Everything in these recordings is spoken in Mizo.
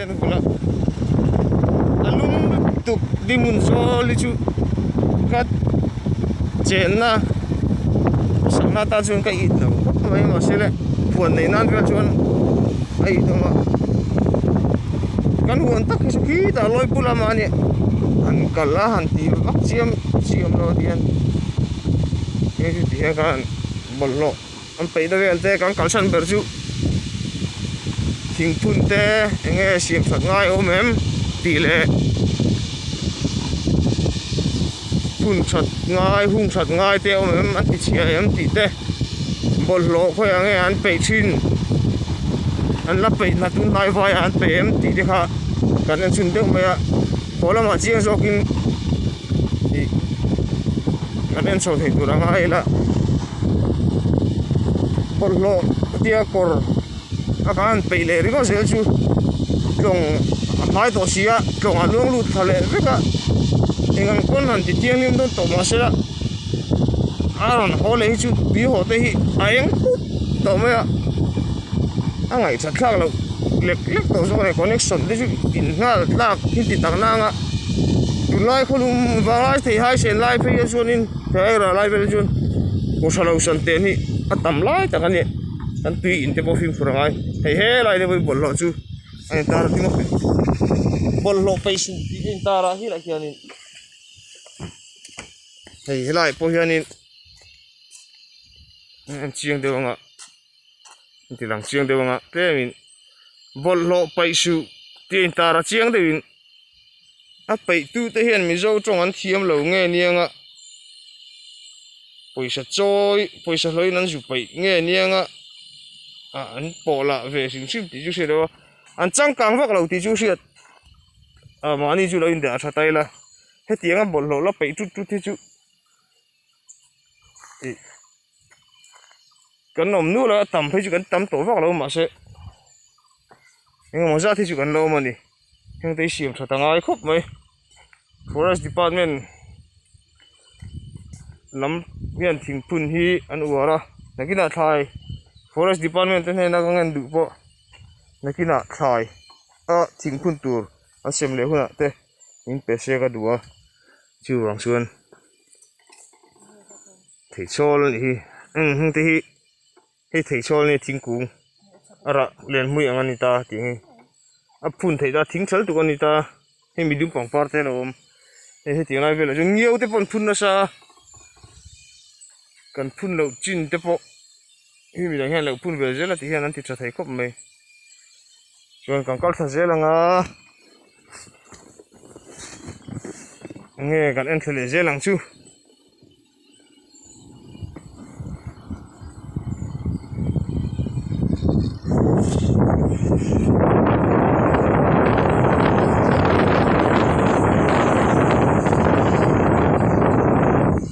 a ka hmu la a lung lutuk tuk ding hun zawl hi chu ka chenna sakna tan chuan ka it lo khawp mai mah se le phuan nei nan vel chuan a it awm a kan huan tak hi chu khi ta lawi pu lam a ni han kal a han ti vak chiam chiam lo a ti hian hei chu ti hian ka han bawlhhlawh An peih deuh hi an te, kan kalsan ber chu thingphun te eng nge siamthat ngai awm em tih leh phunthat ngai, hungthat ngai te awm em an tichhiah em tih te bawlhhlawh khawiah eng nge an peih thin, an la peih hna chu hnaivaiah an peih em tih te kha kan en chhun deuh mai a. Khaw lamah chiang zawkin ih kan en chho thei tur anga ila bawlhhlawh tia kawr a ka han peih leh ringawt zel chu tlawng a hmai tawh si a tlawng a luang lut thla leh vek a eng ang pawn han ti thianghlim dawn tawh mahse a. a rawn haw leh hi chu tui haw te hi a eng put tawh mai a a ngaihchha thlak loh lek lek tawh zawk a ni connection te chu in nghal tlak thil ti takna anga tun lai khaw lum vanglai thei haisen lai phei a chuan in he aira lai vel chuan aw tha lo san teh anih a tam lai tak a ni kan tui in te pawh fimkhur angai hei he lai te pawh i bawlhhlawh chu a intar a ding a bawlhhlawh pei sin tih a intar a hilaiah hian in-- hei helai pawh hianin an chiang deuh ang a an ti lang chiang deuh ang a tlem in bawlhhlawh paih suh tih a in tar a chiang deuh in a peih tu te hian mizo tawng an thiam lo nge niang a pawisa chawi pawisa hlawin an zu peih nge niang a ah an pawh lah ve hrim hrim tih chu hriat loh a an changkang vak lo tih chu hriat. a mahni chu lo in beh a tha ta ila hetiang a bawlhhlawh la peih tut tut hi chu ih kan awm nual a a tam phei chu kan tam tawh vak lo mahse engemaw zat hi chu kan lo awm a ni hengte hi siam tha ta ngai khawp mai forest department lam hian thingphun hi an uar a nakinah thlai forest department te hnena ka nghen duh pawh nakinah thlai. A thing phun tur an sem leh hunah te in pe se ka duh a, chu ruang chuan theichhawl a nih hi, eng heng te hi hei theichhawl nge thingkung a rah lian hmui ang a ni ta tih nge a phun theih ta thing chal tuk a ni ta, hei mi dum pangpar te alo awm hei hetiang lai velah chuan ngiau te pawh an phun nasa a, kan phun loh chin te pawh. Hemi minah hian lo phun ve zel a tih hian an ti tha thei khawp mai. Chuan kan kal thla zel ang a. Enge kan en thla leh zel ang chu.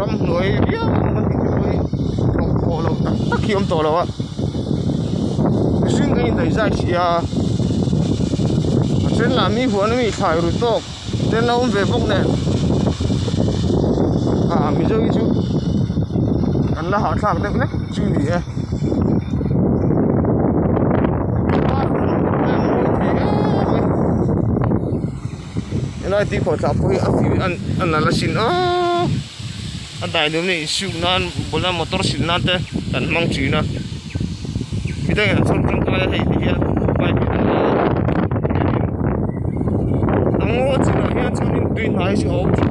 ramhnuai viau a ni tih mai hlawhpawh loh tak tak hi awm tawh lo a mihring an indaihzai si a a then lah mi huan ami thlai ru tawk te an lo awm ve bawk nen ah mizoi chu an la hahthlak deuh hlek chu ni e -- Helai tui khawh thlah pawh hi a fiu a a nalh a sin a, a dai duh ami insiuk nan bula motor silh nan te kan hmang thin a, mi dang in an chhawm tangkai a hei hi hian bike hi kan la a a ngaw chinah hian chuan in tui hnai hi chu a awm thin.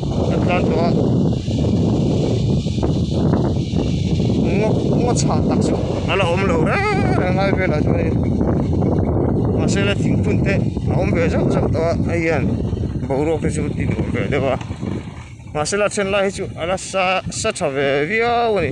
Kan tlan tawh a. Ngawk ngawk chhak tak chu a la awm lo reng reng a lai velah chuan hei mahse le thingphun te a awm ve zauh zauh tawh a hei hian boruak te chu ti tur ve deuh a mahse la chhen lai hi chu a la sa sa tha ve viau a ni.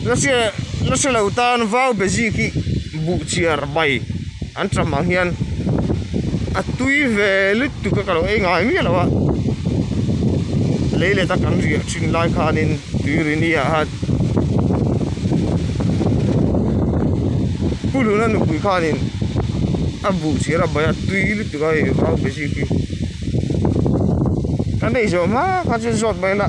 Nasa lo tan vau be zik hi buh chhiar mai an cham ang hian a tui ve lutuk a ka lo ei ngai miah lo a lei let a kan riah thin lai khan in tui ri ni ah hian pu lun a nupui khan in a buh chhiar a mai a tui lutuk a hei vau be zik hi ka neih zawh hma khan chu zawt mai ila.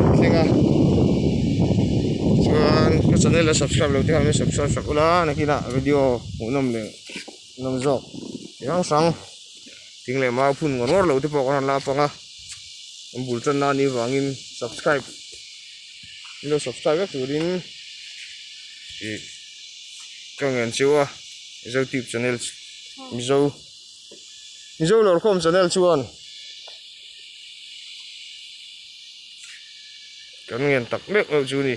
a tling a chuan ka channel a subscribe lo te hian subscribe hrep ula nakinah video hmuh nawm leh nawm zawk chi hrang hrang thing leh mau phun ngawr ngawr lo te pawh ka rawn la a panga kan bul tan na ni vangin subscribe min lo subscribe vek turin ih ka ngen cheu a mizo tube channel mizo Mizo Lawrkhawm Channel chuan kan ngen tak meuh meuh chu ni.